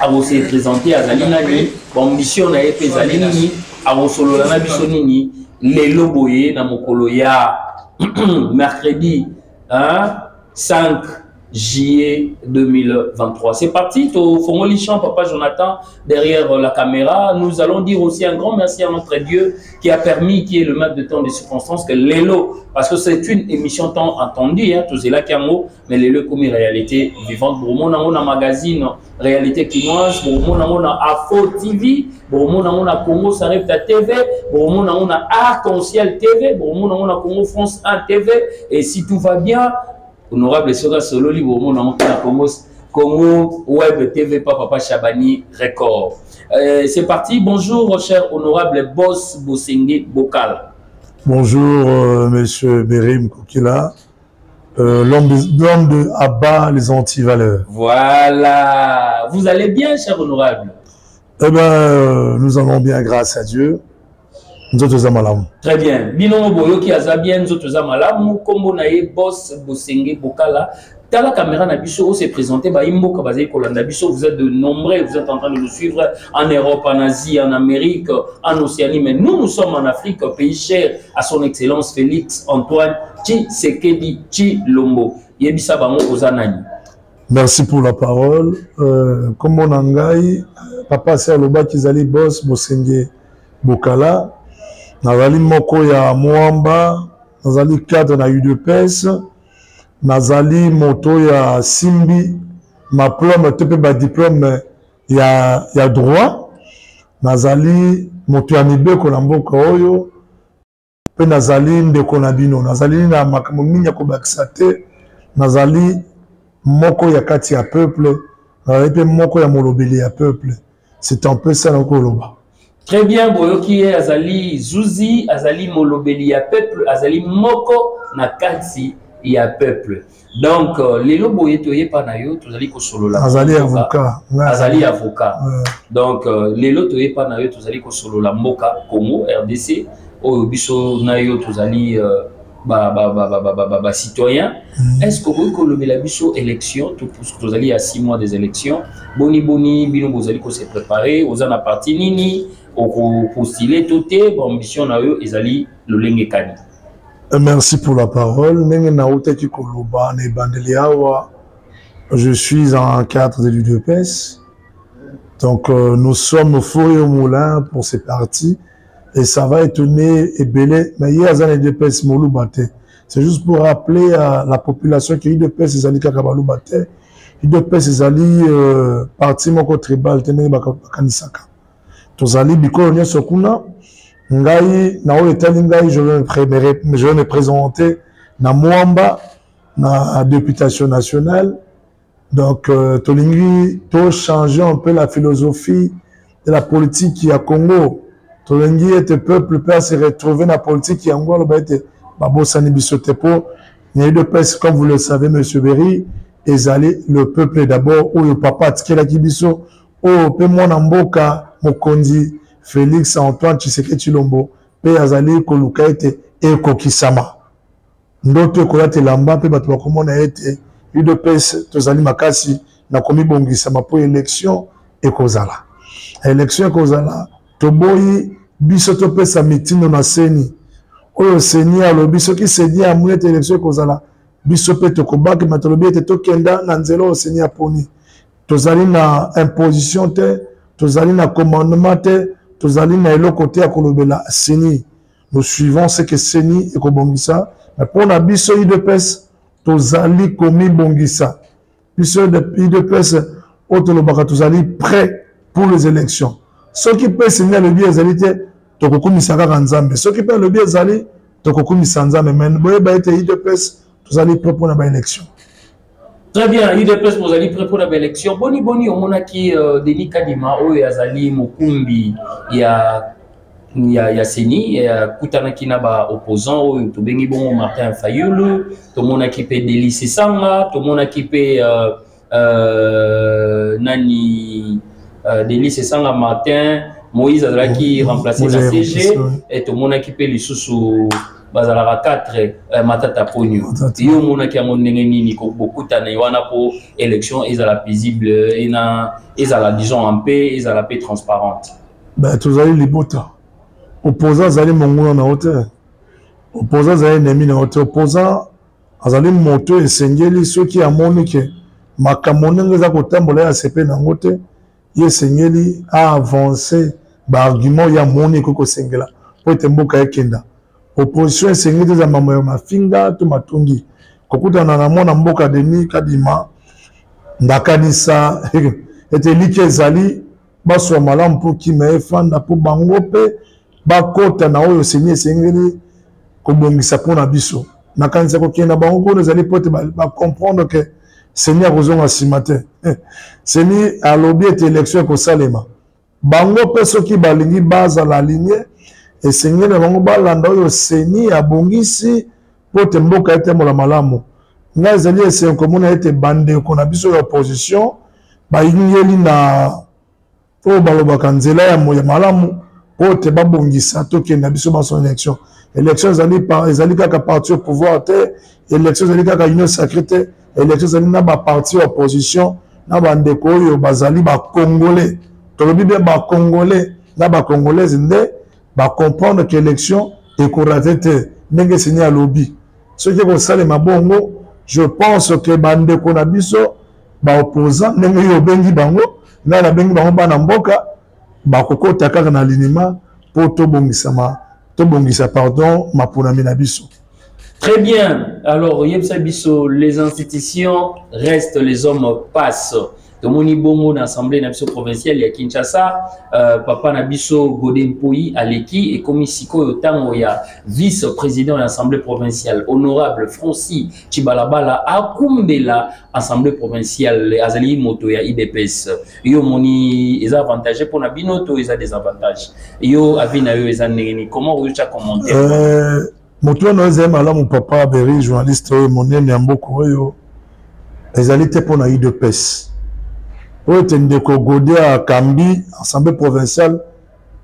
akose présente azali nani bamission na ye mpe ezali nini akosolola na biso nini lelo boye na mokolo ya mercredi hein, 5 juillet 2023 c'est parti tofongoli champ papa jonathan derrière la caméra nous allons dire aussi un grand merci à notre dieu qui a permis qui est le maître de temps des circonstances que lelo parce que c'est une émission temps entendu hein, tozelaki yango mais lelo ekomi réalité vivante bokomona yango na magazine réalité kinoise bokomona yango na afo tv bokomona yango na congo sarepta tv bokomona yango na arc en ciel tv bokomona yango na congo france 1 tv et si tout va bien honorable soki asololi bokomona yango mpe na congo Congo Web TV par Papa Chabani Record. Euh, c'est parti. Bonjour, cher honorable boss Bosengue Bokal. Bonjour, euh, monsieur Berim Koukila. Euh, l'homme de, de abat les antivaleurs. Voilà. Vous allez bien, cher honorable Eh bien, euh, nous allons bien grâce à Dieu. Nous autres malamu. Très bien. Binomo boyoki aza bien, nous autres malamu. Kombo na ye boss Bosenge Bokala. Tala caméra na biso, on s'est présenté ba imboka bazali kolanda biso. Vous êtes de nombreux, vous êtes en train de nous suivre en Europe, en Asie, en Amérique, en Océanie, mais nous nous sommes en Afrique, pays cher à son excellence Félix Antoine tshisekedi tshilombo yebisa bango oza nani merci pour la parole euh, nkombo na ngai papa asi alobaki ezali bos bosenge bokala nazali moko ya mwamba nazali cadre na udps nazali moto ya simbi maplome to mpe badiplome ya, ya droit nazali moto ya mibeko na mboka oyo mpe nazali ndeko na bino nazali na makambo mingi ya kobakisa te nazali moko ya kati ya peuple nazali mpe moko ya molobeli ya peuple c'est un peu ça nakoki koloba très bien boyoki ye azali zuzi azali molobeli ya peuple azali moko na kati ya peuple donc euh, lelo boye toye epa na yo tozali kosolola azali avocat azali avocat donc euh, lelo toye epa na yo tozali kosolola mboka congo rdc oyo biso na yo tozali euh, bacitoyen mm. est ce que okoki kolobela biso élection tozali ya 6 mois des élections boni boni bino bozali kose préparer oza na parti nini okopostile to te baambition na yo ezali lolenge kani Euh, merci pour la parole. Ndenge nautaki koloba na ebandeli awa, je suis en cadre de l'UDPS. Donc euh, nous sommes faux et au moulin pour ces partis et ça va étonner ebele mais ye aza na UDPS moluba te. C'est juste pour rappeler à la population que UDPS ezali kaka baluba te. UDPS ezali euh, parti moko tribal te ndenge bakanisaka. tozali bikolo nyonso kuna ngai na oyo etali ngai je vais me présenter na mwamba na députation nationale donc euh, tolingi tochanger un peu la philosophie de la politique ya congo tolingi ete peuple mpe ase retrouver na politique yango aloba ete babosani biso te mpo na udps comme vous le savez monsieur berry ezali le peuple d'abord oyo papa atikelaki biso oyo mpe mwana mboka mokonzi Felix Antoine Tshisekedi Tshilombo mpe azali koluka ete ekokisama. Ndoto ekolata elamba mpe bato bakomona ete udps tozali makasi na komibongisama mpo election ekozala. Election ekozala, toboyi biso topesa mitindo na seni oyo seni alobi soki seni amoni ete election ekozala biso mpe tokobaki matolobi ete tokenda na nzela oyo seni aponi tozali na imposition te tozali na commandement te tozali na eloko te ya kolobela seni nous suivons ce que seni ekobongisa mais mpo na biso udps tozali komibongisa biso udps oyo tolobaka tozali prêt pour les élections soki mpe seni alobi ezali te tokokumisa kaka nzambe soki mpe alobi ezali tokokumisa nzambe me boyeba ete udps tozali près mpo na baélection très bien udps bozali près mpo na baélection boni boni omonaki euh, denis kadima oyo azali mokumbi ya ya, ya seni akutanaki na baopposant oyo tobengi bongo martin fayulu tomonaki mpe deli sesanga tomonaki mpe uh, euh, nani euh, denis esanga martin moïse azalaki remplacé na cg et tomonaki mpe lisusu bazalaka 4 eh, matata ponio yo omonaki yango ndenge nini bokutana ye wana mpo élection ezala paisible ena ezala disons en paix ezala mpe transparente ben, tozali libota opposant azali monguna na yo te opposant azali enemi na yo te opposant azali moto oyo esengeli soki amoni ke makambo ndenge eza kotambola ye asepe na yango te ye esengeli aavance baargument ye amoni ekoki kosengela mpo ete mboka ekenda opposition esengeli te eza mambo ya mafinga to matungi kokutana na mwana mboka denis kadima ndakanisa ete elikya ezali baswa malamu mpo kima efanda mpo bango mpe bakota na oyo seni esengeli kobongisa mpo na biso nakanisa kokende na bango kuna ezali mpo ete bacomprendre ke seni akozonga nsima te eh, seni alobi ete election ekosalema bango mpe soki balingi bazala alinye esengeli na bango balanda oyo seni abongisi mpo ete mboka etambola malamu ngai ezali esengo komona ete bandeko na biso ya opposition bayingeli na oyo balobaka nzela ya moya malamu oyo te babongisa tokenda biso banso na élection élection ezali ezali kaka parti au pouvoir te élection ezali kaka union sacré te élection ezali na baparti ya opposition na bandeko oyo bazali bacongolais tolobi bien bacongolais na bacongolaise nde bacomprendre ke élection ekorate te ndenge seni alobi soki ekosalema bongo je pense ke bandeko na biso ba opposant ndenge yo obengi bango ngai nabengi bango bana mboka bakokota kaka na linima mpo tobongisama tobongisa pardon maponami na biso Très bien. Alors, yebisa biso les institutions restent les hommes passent. tomoni bongo na assemblée na biso provinciale ya kinshasa euh, papa na biso gode mpoi aleki ekomi sikoyo ntango ya vice président ya assemblée provinciale honorable francis Chibalabala akumbela assemblée provinciale azali moto ya IDPS yo moni eza avantage pona bino to eza désavantage yo avis na yo eza ndenge ni comment oyo tya commentaire euh, moto wana ezali malamu papa Berry journaliste oyo monene ya mboka oyo ezali te pona IDPS oyo ete ndeko gode akambi assemblée provinciale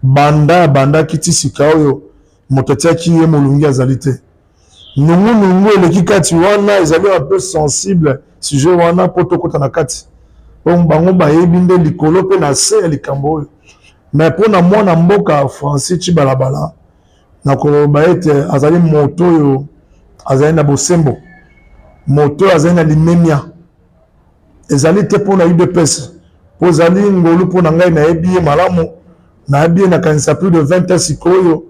banda abandaki ti sika oyo moto atyaki ye molungi azali te nungu nungu eleki kati wana ezali un peu sensible sujet wana po tokota na kati bango bayebi nde likolo mpe na se ya likambo oyo mais mpo na mwana mboka francis cibalabala nakoloba ete azali moto oyo azali na bosembo moto oyo azali na limemia ezali te mpo na udps mpo ezali ngolu mpo na ngai nayebi ye malamu nayebi ye nakanisa plus de 20 ans sikoyo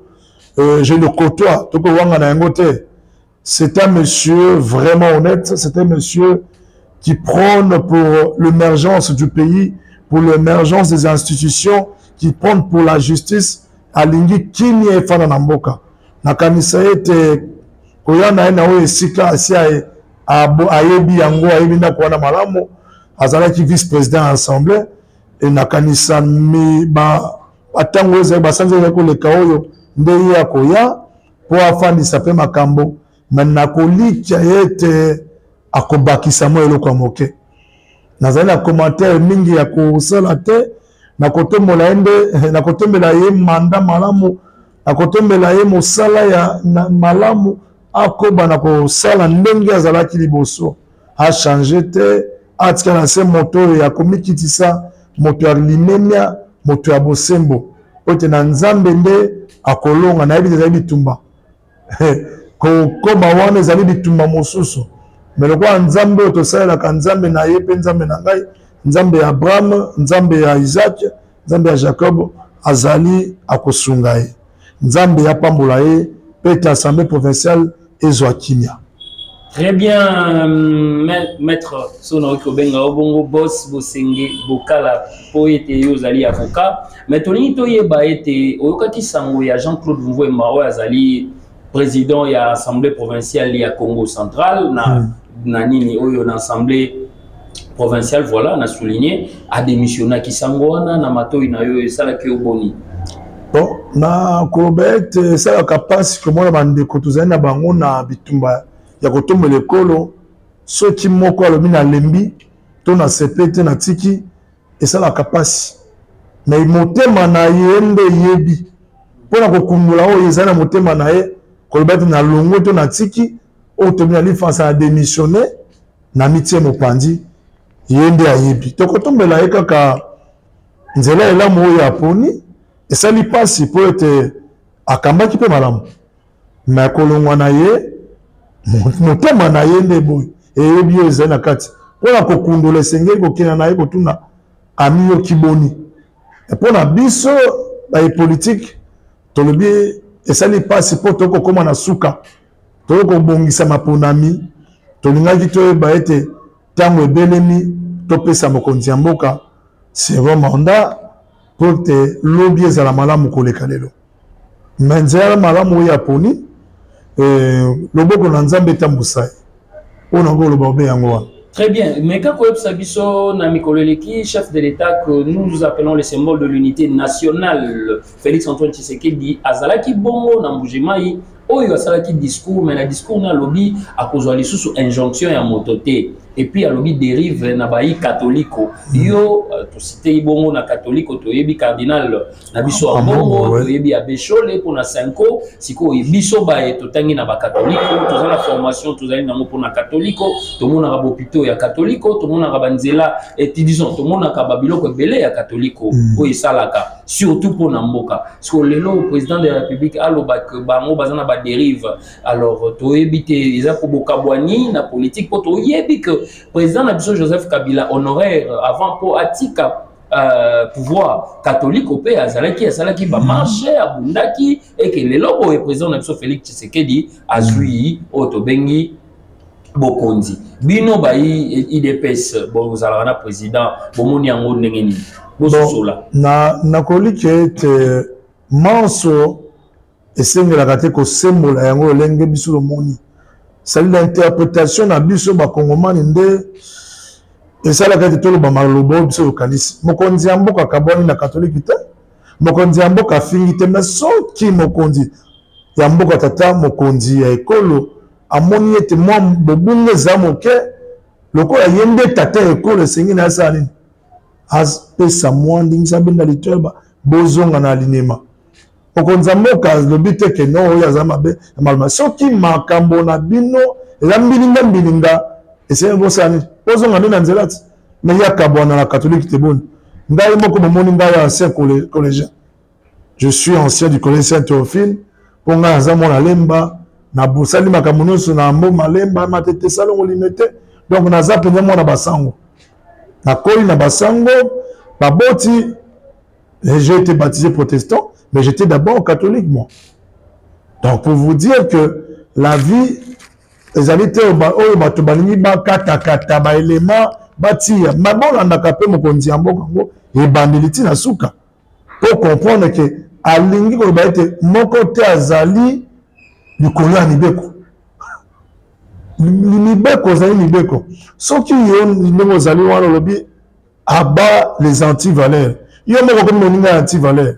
euh, je le côtoie toko wanga na yango te c'est un monsieur vraiment honnête c'est un monsieur qui prône pour l'émergence du pays pour l'émergence des institutions qui prône pour la justice alingi kimia efana na mboka nakanisa ete koya na ye na oyo esika asi ayebi yango ayebi ndako wana malamu azalaki vice président ya assemblée e nakanisa batango ezali basanza ezali koleka oyo nde ye akoya mpo afandisa mpe makambo me nakolikya ye ete akobakisa mwa eloko ya moke nazali na commentaire mingi ya kosala te nakotombola ye nde nakotombela ye manda malamu nakotombela ye mosala ya malamu akoba na kosala ndenge azalaki liboso achange te atika na se moto oyo ya komikitisa moto ya limemia moto ya bosembo po ete na nzambe nde akolonga nayebi te ezali bitumba kokoma wana ezali bitumba mosusu me lokola nzambe oyo tosalelaka nzambe na ye mpe nzambe na ngai nzambe ya abraham nzambe ya isaac nzambe ya jacob azali akosunga ye nzambe apambola ye mpe ete assemblée provinciale ezwa kimia Très bien, maître Sona oki obenga obongo boss bosenge bokala po ete yo ozali avocat mais tolingi toyeba ete oyokaki sango ya Jean-Claude Mvwema oyo azali président ya assemblée provinciale ya Congo central na, hmm. na nini oyo na assemblée provincial voilà na souligner a démissionner ki sango wana na matoyi na yo esalaki yo boni bon na koloba ete esalaka mpasi komona bandeko tozali na bango na bitumba ya kotombela ekolo soki moko alobi nalembi to na sepe te natiki esalaka mpasi me motema na ye nde eyebi mpo na kokundola oyo ezali na motema na ye koloba ete nalongwe to natiki oyo tobi na lifansa na démissionne na mitie mopanzi ye nde ayebi tokotombela ye kaka nzela elamu oyo aponi esali mpasi mpo ete akambaki mpe malamu me kolongwa na ye motema na ye nde boye eyebi oyo ezali na kati mpo na kokundola esengeli kokenda na ye kotuna amiyoki boni mpo na biso baye politike tolobi esali mpasi mpo tokokoma na suka toyei kobongisa maponami tolingaki toyeba ete ntango ebelemi topesa mokonzi ya mboka second mandat mpo ete lobi ezala malamu koleka lelo me nzela malamu oyo aponi eh, loboko na nzambe etambusa ye oyo na koloba obe yango wana Très bien. Mais quand Sabiso, Namikoleleki, chef de l'État que nous appelons le symbole de l'unité nationale, Félix Antoine Tshisekedi, Azalaki Bongo, Nambujimaï, oyo asalaki discours mais na discours na alobi akozwa lisusu injonction ya moto te epuis alobi dérive na bayi katoliko yo euh, tositei bongo na katoliko toyebi cardinal na biso ya mbongo toyebi ya beshole mpo na cinco sikoyo biso baye totangi na bakatoliko toza na formation tozali nango mpo na katoliko tomonaka bopito ya katoliko tomonaka banzela etidison eh, tomonaka babiloko ebele ya katoliko mm. oyo esalaka surtout mpo na mboka sikoyo lelo président de la république aloba ke bango baza na badérive alors toyebi te eza kobokabwani na politique mpo toyebi ke président na biso joseph kabila honoraire avant mpo atika Euh, pouvoir catholique mpe azalaki asalaki bamarche abundaki eke lelo boye président na biso félix tshisekedi azwi oyo tobengi bokonzi bino bayi idps bozalaka na président bomoni yango ndenge nini bososola nakoyiki ete manso esengelaka te kosembola yango lolenge biso lomoni sali na interpretation na biso bakongomani nde esalaka ete toloba maloba oyo biso tokanisi mokonzi ya mboka akabwani na katoliki te mokonzi ya mboka afingi te me soki mokonzi ya mboka tata mokonzi ya ekolo amoni ete mwa bobunga eza moke lokola ye nde tata ya ekolo esengi na asala nini apesa mwa ndingisa benda litoyeba bozonga na alinema okonza mboka lobi te ke no oyo aza mabe ya malma soki makambo na bino eza mbilinga mbilinga esenge bosala nini ozonga nde na nzela ti me ye akabwana na katholike te boni ngai moko bomoni ngai ya ancien collégien je suis ancien du collège saint théophile mpo ngai aza mwana lemba nabosani makambo nyonso na mbo malemba matete salongo lime te donc naza mpenza mwana basango nakoli na basango baboti J'ai été baptisé protestant, mais j'étais d'abord catholique, moi. Donc, pour vous dire que la vie, les amis, oh, bato balingi bakatakata baelema batiya ma bolandaka mpe mokonzi ya mboka yango ebandeli ntina suka mpo comprendre ke alingi koloba ete moko te azali likolo ya mibeko mibeko ozali mibeko soki yo ndenge ozali wana olobi aba les antivaleur yo moko okomi moninga ya antivaleur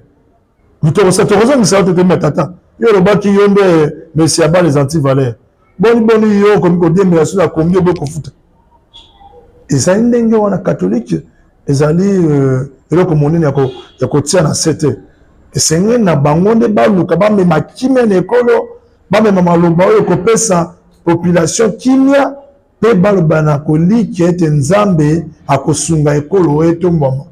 mitokosa tokozongisa yo totemba tata yo olobaki yo nde messi aba les antivaleur boni boni yo okomi kodiembela so na kongi oboyi kofuta ezali ndenge wana katolike ezali euh, eloko monene ya kotia na se te esengeli na bango nde baluka bamema kimia na ekolo bamema maloba oyo ekopesa population kimia Mpe baloba na kolikia ete Nzambe akosunga ekolo oyo etombwama.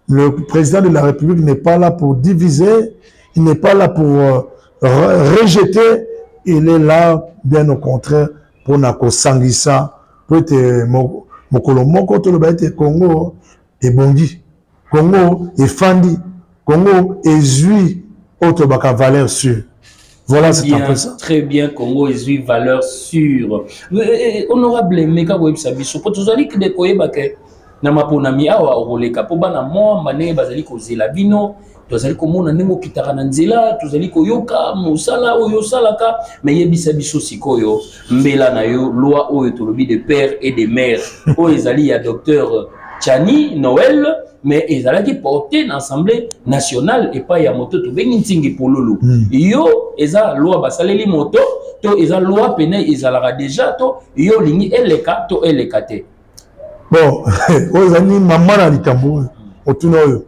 Le président de la République n'est pas là pour diviser, il n'est pas là pour euh, rejeter, il est là, bien au contraire, pour na kosangisa, mpo ete mokolo moko toloba ete Congo ebongi congo efandi congo ezwi oyo tolobaka valeur sûre Voilà, c'est un peu ça. Très bien, Congo est une valeur sûre. Eh, eh, eh, honorable Meka Websa Bisso, pour tous les qui décoyent, na maponami awa okoleka mpo bana mwa mane bazali kozela bino tozali komona ndenge okitaka na nzela tozali koyoka mosala oyo osalaka me yebisa biso sikoyo mbela na yo loi oyo tolobi de père et de mère oyo ezali ya docteur chani noel mais ezalaki porte na assemblée nationale epai ya moto tobengi ntingi polulu mm. yo eza loi basaleli moto to eza loi pene ezalaka deja to yo olingi eleka to eleka te bon oyo ezali mama na likambo oyo otuna oyo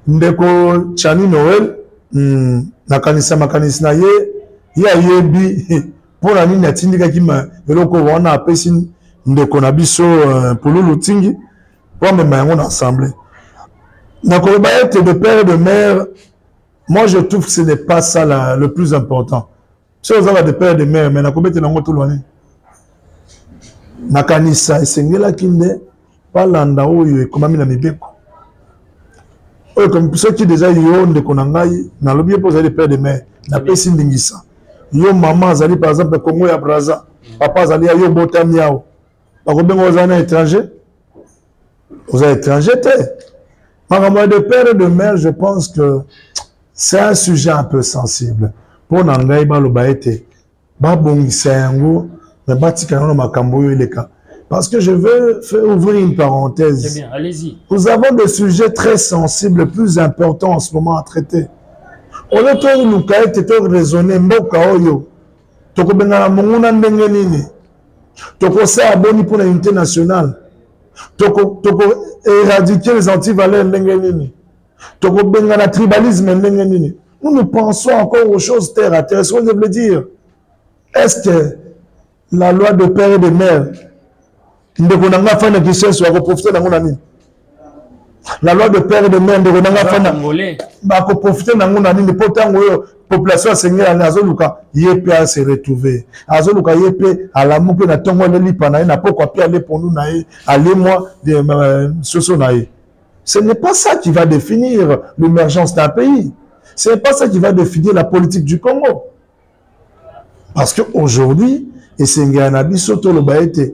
ndeko chani noel hmm, nakanisa makanisi na ye ye ayebi mpo na nini atindikaki eloko wana apesi ndeko na biso euh, pululu tingi mpo amema yango na assemblée nakoloba ete de père et de mère moi je trouve ce n'est pas ça la, le plus important soki ozaka de père de mère me nakobetela yango tolwane nakanisa esengelaki nde balanda oyo ekomami na mibeko oyo ekomi soki deja yo ndeko na ngai nalobi ye mpo ozali de père de mère napesi ndingisa yo mama azali par exemple congo ya braza papa azali ya yo obotami awa bakobenga ozali na étranger Vous êtes étranger te. Makambo de père et de mère, je pense que c'est un sujet un peu sensible. Mpo na ngai baloba ete babongisa yango me batika yango na makambo oyo eleka. Parce que je veux faire ouvrir une parenthèse. Très bien, allez-y. Nous avons des sujets très sensibles, plus importants en ce moment à traiter. Au lieu de nous raisonner, mboka oyo, tokobengana monguna ndenge nini tokosala boni mpo na unité nationale tokoéradike toko les antivaleurs ndenge nini tokobengana tribalisme ndenge nini nous nous pensons encore aux choses terre à terre ce que je voulais dire est ce que la loi de père et de mère ndeko na ngai afandi na kinsenso akoprofite nango na nini la loi de père de mère ndeko na ngai afandi bakoprofite nango na nini mpo ntango oyo population asengeli azoluka ye mpe ase retrouve azoluka ye mpe alamuki na ntongo ele lipa na ye na pokwa mpe ale pondu na ye alemwa euh, soso na ye ce n'est pas ça qui va définir l'émergence d'un pays ce n'est pas ça qui va définir la politique du congo parce que aujourd'hui esengela na biso toloba ete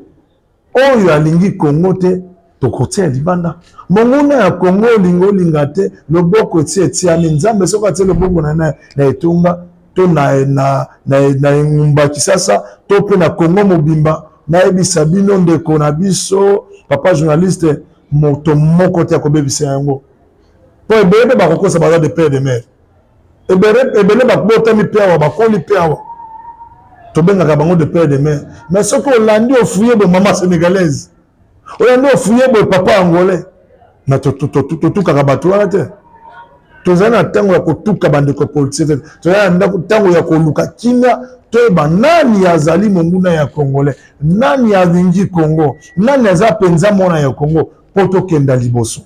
oyo alingi kongo te tokotia libanda monguna ya kongo olinga olinga te loboko eti etiami nzambe soki atie loboko na na etonga to na, na, na, na engumba kisasa to mpe na kongo mobimba nayebisa bino ndeko na biso papa journaliste moto moko te akobebisa yango mpo ebele mpe bakokosa baza de pere de mare ebele babotami mpe awa bakoli mpe awa tobengaka bango de père de mare mais soki olandi ofuye boye mama sénégalaise olandi ofuye boye papa angolais na totukaka bato wana te tozali na ntango ya kotuka bandeko politiki te tozali na ntango ya koluka kimia toyeba nani azali monguna ya congolais nani alingi congo nani aza mpenza mwana ya congo mpo tokenda liboso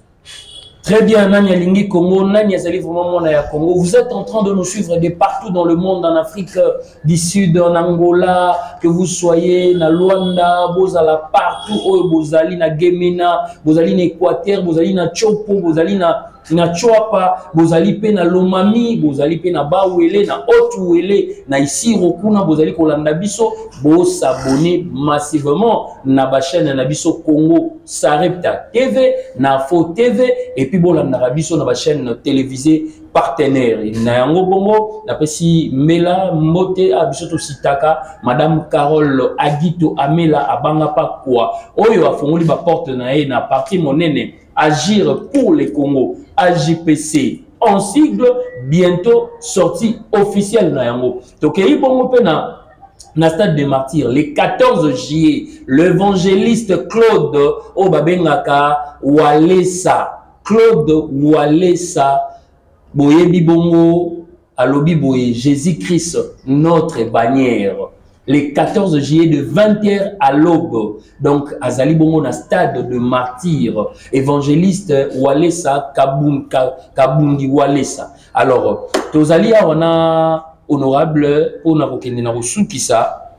Très bien, Nani Alingi Congo, Nani Azali vraiment mwana ya Congo. Vous êtes en train de nous suivre de partout dans le monde, en Afrique euh, du Sud, en Angola, que vous soyez na Luanda, Bozala partout, oh, Bozali na Gemena, Bozali na Équateur, Bozali na Chopo, Bozali na na Choapa, Bozali pe na Lomami, Bozali pe na Bawele, na Otuwele, na Isiro kuna, Bozali kolanda biso, bo s'abonner massivement na ba chaîne na biso Congo. Sarepta TV, na Fo TV, et puis bon, la biso na ba chaîne télévisée partenaire. Na yango bongo, na pesi Mela Mbote a biso to sitaka, Madame Carole Agito Amela abanga pa kwa. Oyo afongoli ba porte na ye na parti monene Agir pour le Congo, AJPC. En sigle, bientôt sortie officielle na yango. Tokei bongo pe na na stade de martyr le 14 juillet l'évangéliste claude oyo babengaka walesa claude walesa boyebi bongo alobi boye jésus christ notre bannière le 14 juillet de 20h à l'aube donc azali bongo na stade de martyr évangéliste walesa kabundi walesa alors tozali awa na honorable mpo na kokende na kosukisa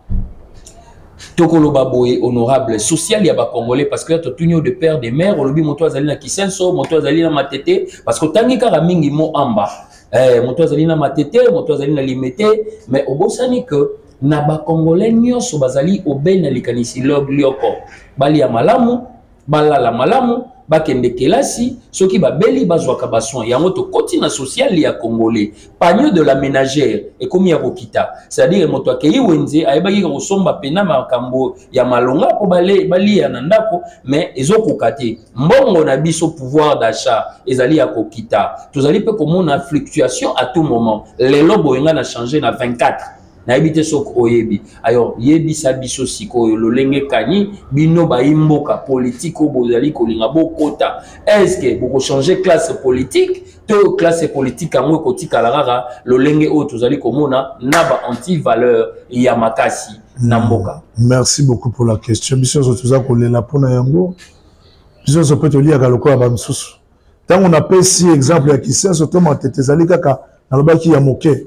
tokoloba boye honorable social ya bacongolais parce que totuni yo de père de mère olobi moto azali na kisenso moto azali na matete parce que otangi kaka mingi mo amba eh, moto azali na matete moto azali na limete mais obosani que na bacongolais nyonso bazali obei na likanisi lioko bali ya malamu balala malamu bakende kelasi soki babeli bazwaka basoin yango tokoti na sociale ya congolais pagno de la ménagère ekomi ya kokita c'est-à-dire moto akei wenze ayebaki kosomba mpena makambo ya malonga mpo baliya na ndako mais ezokoka te mbongo na biso pouvoir d'achat ezali ya kokita tozali mpe komona fluctuation à tout moment lelo boyenga na change na 24 nayebi te soki oyebi alors yebisa biso sikoyo lolenge kani bino bayi mboka politike oyo bozali kolinga bokota estce bokochange classe politique to classe politique yango ekotikala kaka lolenge oyo tozali komona na ba antivaleur ya makasi na hmm. mboka merci beaucoup pour la question biso nyonso toza kolela mpona yango biso nyonso mpe toliyaka lokola bamosusu ntango napesi exemple ya kisenso to matete ezali kaka nalobaki ya moke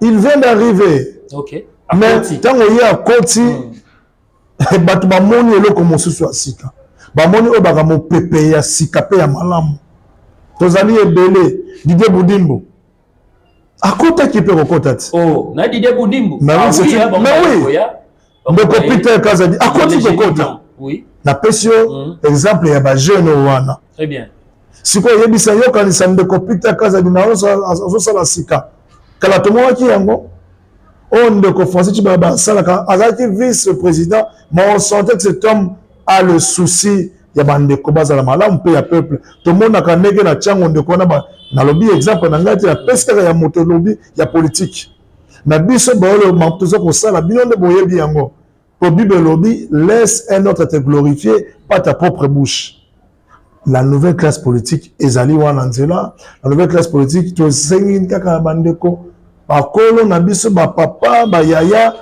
il vient d'arriver okay. mais ntango ye akoti mm. bato bamoni eloko mosusu ya sika bamoni oyo baka mopepe ya sika mpe ya malamu tozali ebele didie budimbu akotaki mpe kokota ti oh, na didie budimbu mais ah, oui, hein, mais oui. ndeko peter kazadi akoti kokota napesi yo hmm. exemple ya bajeune oyo wana sikoyo oyebisa yokanisa ndeko peter kazadi na azosala sika kala tomwaki yango oyo oh, ndeko français cibaya basalaka azalaki vice président ma on sentait que cet homme a le souci ya bandeko bazala malamu mpe ya peuple tomonaka ndenge na ntiango ndeko wana nalobi exemple na ngai te napesi kaka ya moto olobi ya politike na biso baoyo makambo toza kosala bino nde boyebi yango po bible elobi laisse un autre te glorifier pas ta propre bouche la nouvelle classe politique ezali wana nzela la nouvelle classe politique tosengi kaka bandeko bakolo na biso bapapa bayaya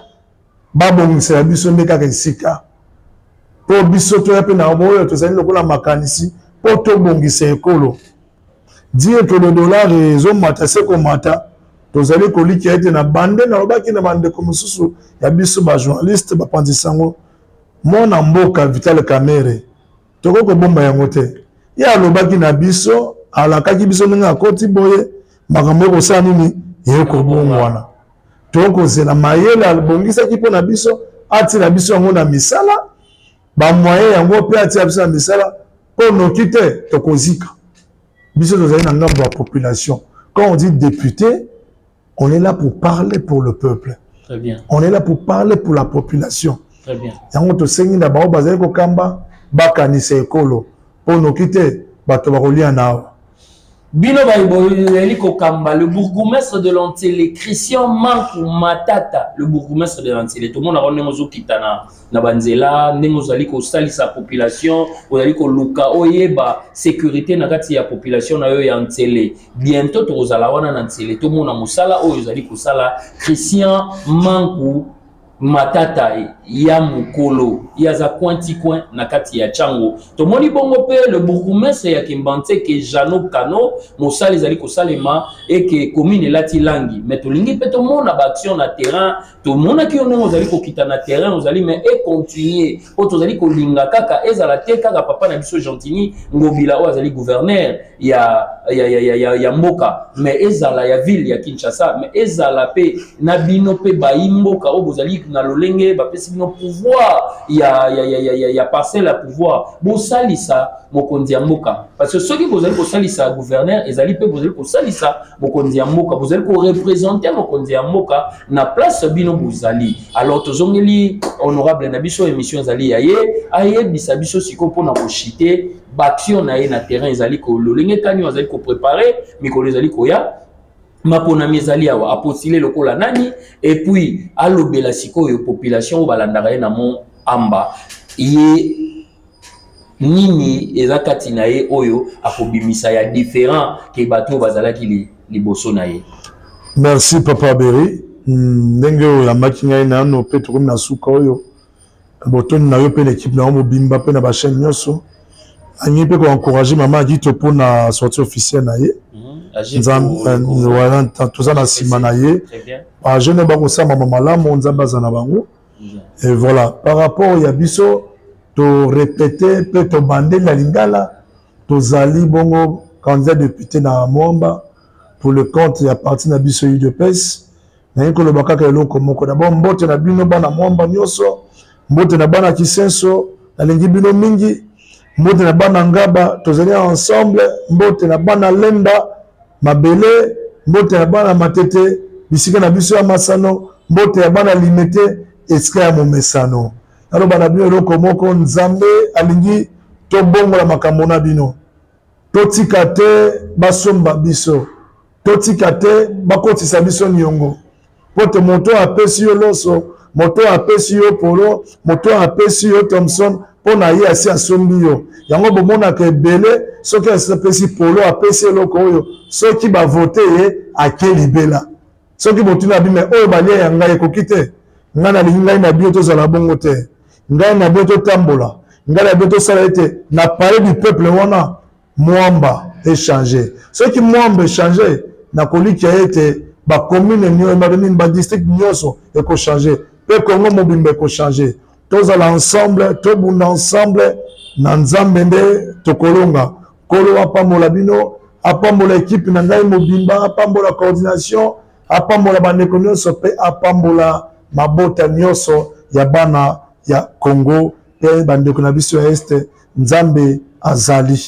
babongisela biso nde kaka esika mpo biso toya mpe na oyo tozali lokola makanisi mpo tobongisa ekolo dire que le dollar ezomata se komata tozali kolikia ete na bande nalobaki na bandeko mosusu ya biso bajournaliste bapanzi sango mwana mboka vital kamere tokoki kobomba yango te ye alobaki na biso alakaki biso ndenge akoti boye makambo ekosala nini ekobongwana tokozela mayele abongisaki mpo na biso atina biso yango na misala bamoyen yango mpe atia biso na misala mpo noki te tokozika biso tozali na ngambo ya population quand on dit député on est là pour parler pour le peuple Très bien. on est là pour parler pour la population yango tosengi na bango bazali kokamba bakanisa ekolo mpo noki te bato bakolia na awa bino bayeli kokamba le bourgoumestre de lantele christian manku matata le bourgoumestre de lantele tomonaka ndenge ozokitana na banzela ndenge ozali kosalisa population ozali koluka oyeba sécurité na kati ya population na yo ya nsele bientôt tokozala wana na nsele tomona mosala oyo ozali kosala christian manku matata ya mokolo ye aza coin ti coin na kati ya chango tomoni bongo mpe le bourgoumestre ya kimbanseke jano kano mosala ezali kosalema eke commune elati langi me tolingi mpe tomona baaction na terrain tomonaki yo ndenge ozali kokita na terrain ozali me econtinue mpo tozali kolinga kaka ezala te kaka papa na biso gentini ngobila oyo azali gouverneur ya, ya, ya, ya, ya, ya mboka me ezala ya ville ya kinshasa me ezala mpe na bino mpe bayi mboka oyo bozali na lolenge bapesi bino pouvoir ya, ya, ya, ya, ya, ya parcelle ya pouvoir bosalisa mokonzi ya mboka parce que soki bozali kosalisa gouverneur ezali mpe bozali kosalisa mokonzi ya mboka bozali korepresente mokonzi ya mboka na place bino bozali alors tozongeli honorable na biso émission ezali ya ye ayebisa biso sikoyo mpo na koshite baaction na ye na terrain ezali kololenge kani oyo azali koprepare mikolo ezali koya maponami ezali awa apostile lokola nani epuis alobela sikoyo population oyo balandaka ye na mont amba ye nini eza kati na ye oyo akobimisa ya différent ke bato oyo bazalaki li, liboso na ye merci papa beri hmm, ndenge oyo oyambaki ngai nano mpe tokomi na suka oyo botondi na yo mpe na ekipe na yo mobimba mpe na bachaine nyonso angi mpe koencourage mama adito mpo na sorti officielle na ye mhm. toza na nsima na ye bajeune oyo bakosamama malamu nzambe aza na bango mhm. et voilà par rapport ya biso torepete mpe tobande na lingala tozali bongo candidat député na mwamba pour le compte ya parti na biso udps naye koloba kaka eloko moko dabord mbote na bino bana mwamba nyonso mbote na bana kisenso nalingi bino mingi mbote na bana ngaba tozali ensemble mbote na bana lemba mabele mbote na bana matete bisika na biso ya masano mbote ya bana limete esika ya momesano naloba na bino eloko moko nzambe alingi tobongola makambo na bino totika te basomba biso totika te bakotisa biso niongo mpo te moto oyo apesi yo loso moto oyo apesi yo polo moto oyo apesi yo thomson mpo na ye asi asombi yo yango bomonaka ebele soki asapesi polo apesi eloko oyo soki bavote ye ake libela soki botuna abi me oyo balia ya ngai ekoki te ngai nalingi ngai na bino tozala bongo te ngai na bino totambola ngai na bino tosala ete na palais du peuple wana mwamba echange soki mwamba echange nakolikia ete bacommune nini badistrict nyonso ekochange mpe congo mobimba ekochange tozala ensemble tobunda ensemble na nzambe nde tokolonga nkolo apambola bino apambola ekipe na ngai mobimba apambola coordination apambola bandeko nyonso mpe apambola mabota nyonso ya bana ya congo mpe bandeko na biso ya este nzambe azali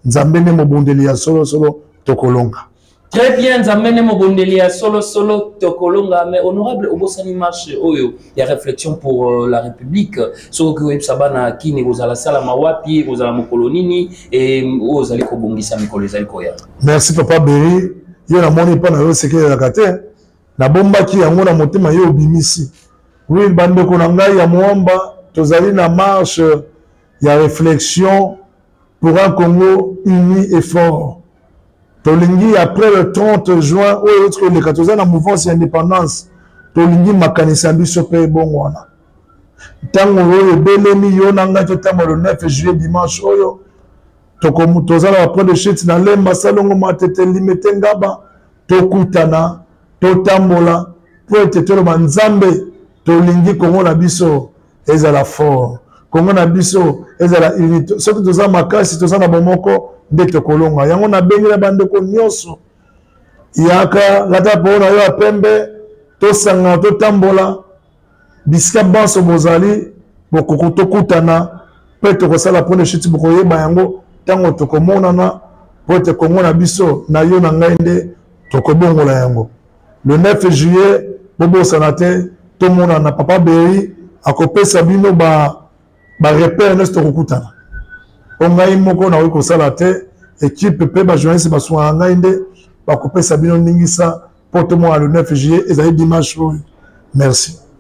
nzambe nde mobundeli ya solosolo tokolonga Très bien, Nzambe ne mobondeli ya solo solo tokolonga mais honorable obosani marche oyo ya réflexion pour euh, la République soki oyebisa bana kini kozala sala mawapi kozala mokolo nini et oyo ozali kobongisa mikolo ezali koya. Merci papa Berry, yo namoni mpo na yo sekelelaka te nabombaki yango na motema yo obimisi. Oui, bandeko na ngai ya Moamba tozali na marche ya réflexion pour un congo uni et fort tolingi après le 30 juin oyo euti koleka toza na mouvance ya indépendance tolingi makanisi ya biso mpe ebongo wana ntango oyo ebelemi yo na ngai totambola le 9 juillet dimanche oyo toza na bapre de chute na lemba salongo matete limete ngaba tokutana totambola mpo ete toloba nzambe tolingi kongo na biso ezala fort kongo na biso ezala unité soki toza makasi toza na bomoko nde tokolonga yango nabengela bandeko nyonso yaka lata po na yo ya pembe tosangana totambola bisika banso bozali bokoki tokutana mpe tokosala mpo na shiti bokoyeba yango ntango tokomonana mpo ete kongo na biso na yo na ngai nde tokobongola yango le 9 juillet bobosana te tomonana papa beri akopesa bino ba barepere nyonso tokokutana mpo ngai moko nakoki kosala te ekipe mpe bajournaliste basungaka ngai nde bakopesa bino ndingisa mpo tomona le 9 juillet ezali dimanche oyo merci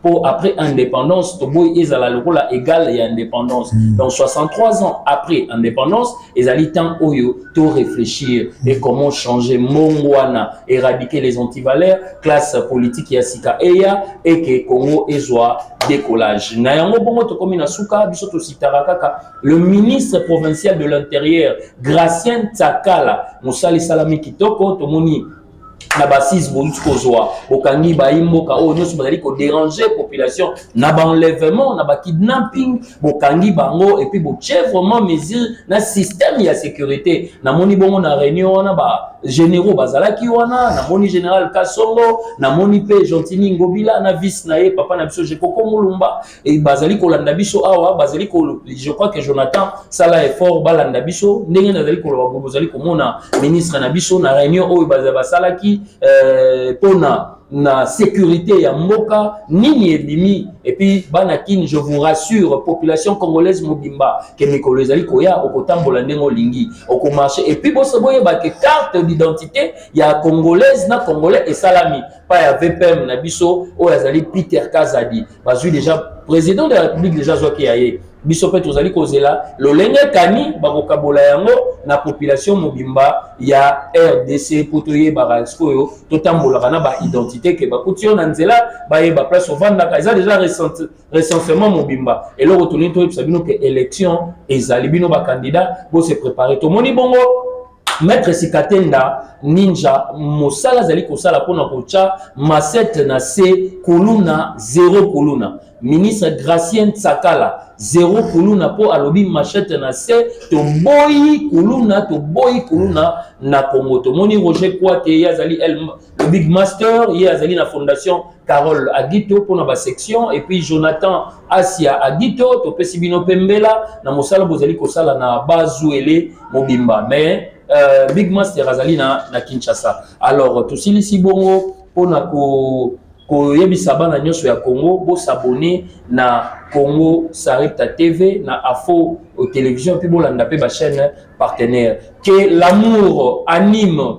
pour après indépendance toboyi ezala lokola égal et indépendance mm. donc 63 ans après indépendance ezali temps oyo to réfléchir mm. et comment changer mongwana éradiquer les antivaleurs classe politique ya sika eya et que Congo ezwa décollage na yango bongo tokomi na suka biso tositaka kaka le ministre provincial de l'intérieur Gracien Tsakala mosali salami kitoko tomoni na basise boluti kozwa bokangi bayi mboka oyo nyonso bazali koderange population na baenlèvement na bakidnapping bokangi bango epuis botie vraiment mesure na système ya sécurité namoni bongo na réunion wana ba généraux bazalaki wana namoni général kasongo namoni mpe gentini ngobila na vice na ye papa na biso jekoko mulumba et bazali kolanda biso awa bazali ko je crois que Jonathan sala effort balanda biso ndenge nazali koloba boye bozali komona ministre na biso na réunion oyo basalaki euh, pona na sécurité ya mboka nini ebimi epuis bana kini je vous rassure population congolaise mobimba ke mikolo ezali koya okotambola ndenge olingi okomarche epuis boso boyeba ke carte d'identité ya congolaise na congolais esalami pa ya vpm na biso oyo azali peter kazadi bazwi deja president de la république deja azwaki ya ye biso mpe tozali kozela lolenge kani bakokabola yango na population mobimba ya rdc mpo toyebaka sikoyo totambolaka na baidentité ke bakuti yo na nzela bayeba place ovandaka eza deja recensement mobimba eloko tolingi toyebisa bino ke élection ezali bino bakandida bose prépare tomoni bongo Maître Sikatenda Ninja mosala azali kosala mpona kotya masete na se kuluna zero kuluna ministre Gracien Tsakala zero kuluna mpo alobi machete na se toboyi kuluna toboyi kuluna na Congo tomoni Roger Kwate ye azali Le Big Master, ye azali na fondation Carole Agito pona ba section et puis Jonathan Asia Agito topesi bino pe mbela na mosala bozali kosala na Bazuele mobimba mais euh, Big Master azali na, na Kinshasa. Alors tosilisi bongo pona ko koyebisa bana nyonso ya Congo bosabone na Congo Sarepta TV na Afo Television puis bolanda pe ba chaîne partenaire que l'amour anime